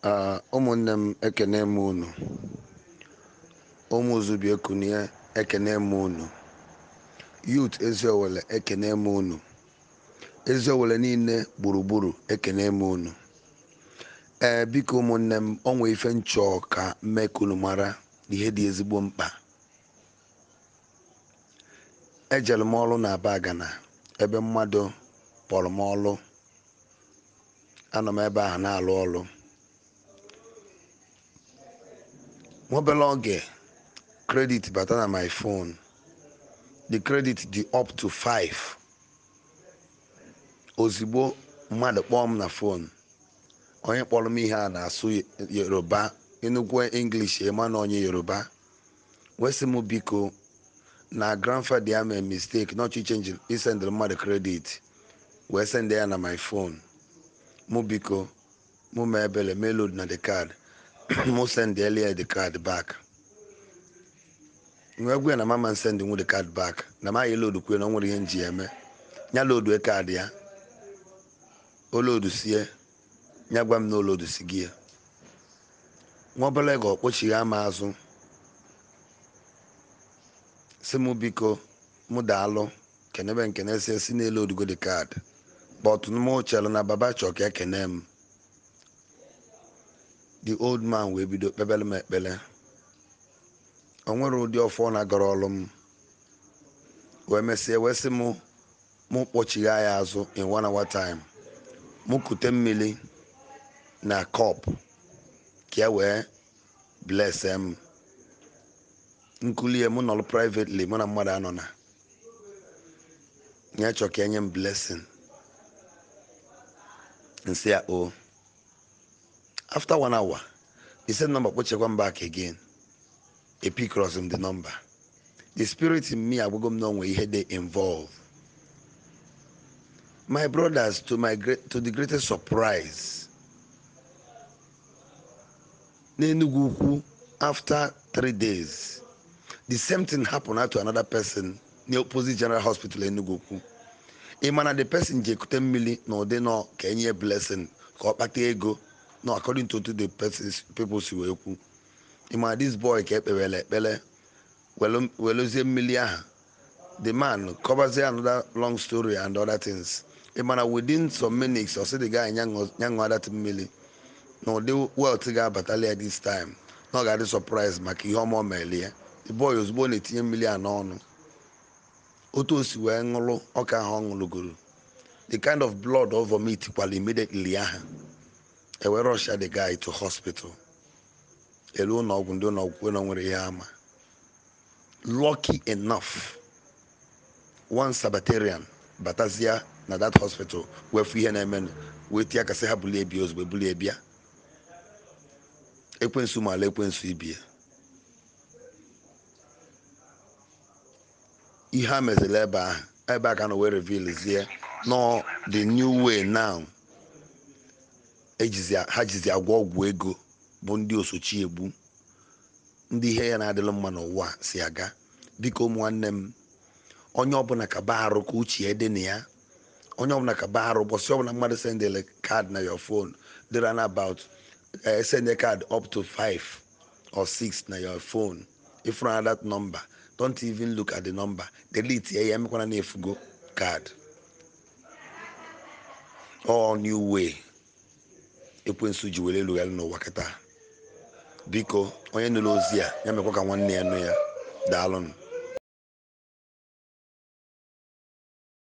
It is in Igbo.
Ah, ụmụnne m ekene m unu ụmụ zubi ekunie ekene m unu youth eziowele ekene m unu eziowele niile gburugburu ekene m unu ee biko ụmụnne m o nwee ife nchọ ka m mee ka unu mara ihe dị ezigbo mkpa ejere m ọrụ na abagana ebe mmadụ kpọrọ m ọrụ anọ m ebe ahụ na-alụ ọlụ nwa obere oge credit bata na my phone the credit dị up to 5 ozigbo mmadụ kpọọ m na phone onye kpọrọ m ihe a na-asụ yoruba ị nụkwu english ị ma na onye yoruba wee sị m biko na grandfather ya mee mistake na ọ chọ isendịrị mmadụ credit wee send ya na my phone mụ biko mụ mee ebele m eloadna the card mụ sendeli ya the card back m wee gwa ya na m ama send nwu the card back na ma ya load kwue na o nwere ihe nji ya eme ya load card ya o load sie ya gwa m na o loadsigo ya nwa obere oge ọ kpọchigha m azụ sị mụ biko mụ daalụ kenebe m ekene sị sị na eloadugo the card but mụ chere na baba chọ ka ekene m the old man wee bido kpebere m ekpere o nwerọ ụdị ọfọ ọ na-agọrọlụ m wee mesịa wee sị m mụ kpọchigha ya azụ in one hour time mụ kute mmiri na cup ka e wee bless m nkulie mụ nọrọ privately mụ na mmadụ anọna ya chọ ka e nye m blessing nsị ya o after one hour the same number kpọchikwa m back again epickrọzi m the number the spirit in me agwago m na o nwee ihe dị involved my brothers to the greatest surprise n'enugwu ukwu after three days the same thing happen to another person n'opposite general hospital enugwu ukwu ị ma na the person je kute mmiri na ụdị nọ ka e nye blessing ka ọ kpata ego no according to the people si wee kwu ị ma this boy ka ekpewere ekpere welu- weluzie mmiri ahụ the man kọvazie another long story and other things ị ma na within some minutes ọ sị the guy nya ṅụ- nya ṅụọ that mmiri na ụdị wealth ga-abatalị ya this time na ọ ga-adị surprise maka ihe ọma o mere ya the boy ozugbo ọ na-etinye mmiri a n'ọnụ otu o si wee ṅụrụ ọka ahụ ọ ṅụrụgoro the kind of blood ọ vomit kwara immediately ahụ e wee rushia the guy to hospital e lu ụlọ ọgwụ ndị ụlọ ọgwụ kwuo na o nwerọ ihe ha ma lucky enough one sabbatarian batazia na that hospital wee fụ ihe na-emenụ wee tie aka sị ha bulie bịa ozugbo bulie bịa ekwensu maalụ ekwensu ibe ya ihe a meziri ebe ahụ ebe a ka a nọ wee revealzie na ọ the new way now ha jizi agwọ ọgwụ ego bụ ndị osochi egbu ndị ihe ya na-adịlụ mma n'ụwa a si aga biko ụmụ nwanne m onye ọbụla kaba arụ ka uche ya dị na ya onye ọbụla kaba arụ ụbọchị ọbụla mmadụ sendịrị card na your phone dịrị na about sendie card up to 5 or six na your phone ị fụrụ na that number don't even look at the number delete ya ya emekwana na e fugo card all new way ekwensu ji wee alụ ọlụ n'ụwa kịta biko onye nụrụ ozi a ya mekwa ka nwanne ya nụ ya daalụnụ